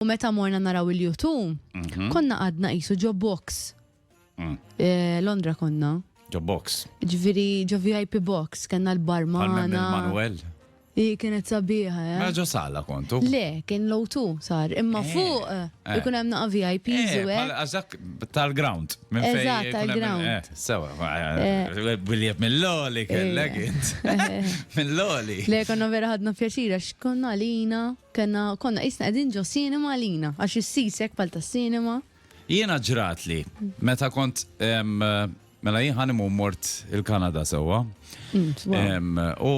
U meta morna naraw il-U2, mhm. konna għadna qisu ġo box. Mm. Eh, Londra konna. Ġo box. Ġviri, ġo VIP box, kena l-barmana. Manuel. I kienet sabiħa, eh? Maġo sala kontu? Le, kien low tu sar. Imma eh, fuq, eh, eh. ikun hemm naqa VIP, zuwe. Għazak tal-ground. Eżat, tal-ground. Sewa, biljet mill-loli kellek int. Mill-loli. Le, konna vera ħadna pjaċira, xkonna lina. Kellna, konna qisna qegħdin ġo cinema għalina, għax is-seats hekk bħal tas-cinema. Jiena ġratli, meta kont, mela jien honeymoon mort il-Kanada sewwa. U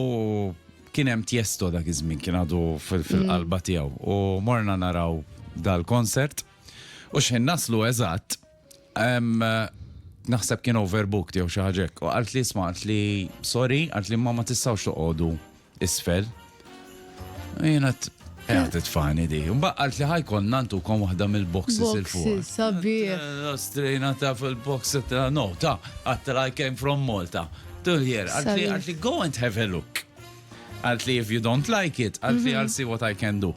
kien hemm Tiesto dak iż-żmien kien għadu fil-qalba tiegħu u morna naraw dal-konsert u x'ħin naslu eżatt, Naħseb kien overbooked jew xi ħaġa hekk. U qalt li isma' qalt li sorry, qalt li ma ma tistgħux toqogħdu isfel. Jiena Għat t-tfani di. Mbaqqalt li ħajkon nantu kon wahda mill-boxes il-fuq. Sabi. Strejna ta' fil-box, no, ta' għattra I came from Malta. Tul hier, għatli għatli go and have a look. Għatli if you don't like it, għatli mhm. I'll see what I can do.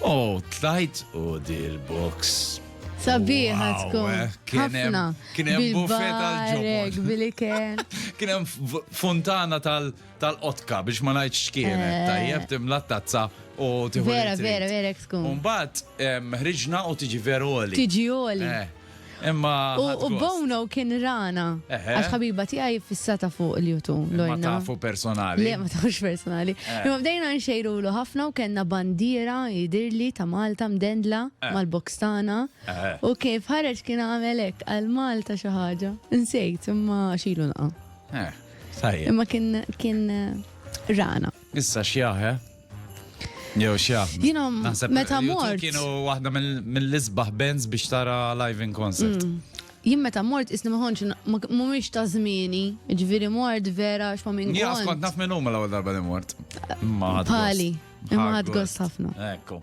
Oh, tlajt u dir box. Sabiħa tkun. Eh, kienem, kienem buffet għal-ġobon. Bil-iken. Kienem fontana tal-qotka biex ma najċ xkienet. Eh. Tajjeb timla tazza u tiħu. Vera, vera, vera tkun. Umbat, ħriġna u tiġi veroli. Tiġi oli. Eh. Imma. U Bono kien rana. Għax ħabiba tiegħi fissata fuq il-jutu. Ma tafu personali. Le, ma tafux personali. Eh. Imma bdejna nxejru l ħafna u kellna bandiera jidirli ta' Malta mdendla eh. mal-boks tagħna. Eh. U kif ħareġ kien għamelek għal Malta xi ħaġa. Nsejt imma xilu naqa'. Imma kien kien rana. Issa xjaħe. Jew x'jaf. Jiena meta mort. Kienu waħda mill-isbaħ bands biex tara live in concert. Mm. Jien meta mort isni maħonċ mhumiex ta' żmieni, ġifieri mort vera x'ma minn. Jien kont naf minn huma l-ewwel darba li mort. Ma Pali, imma ħadd gost ħafna. Ekku.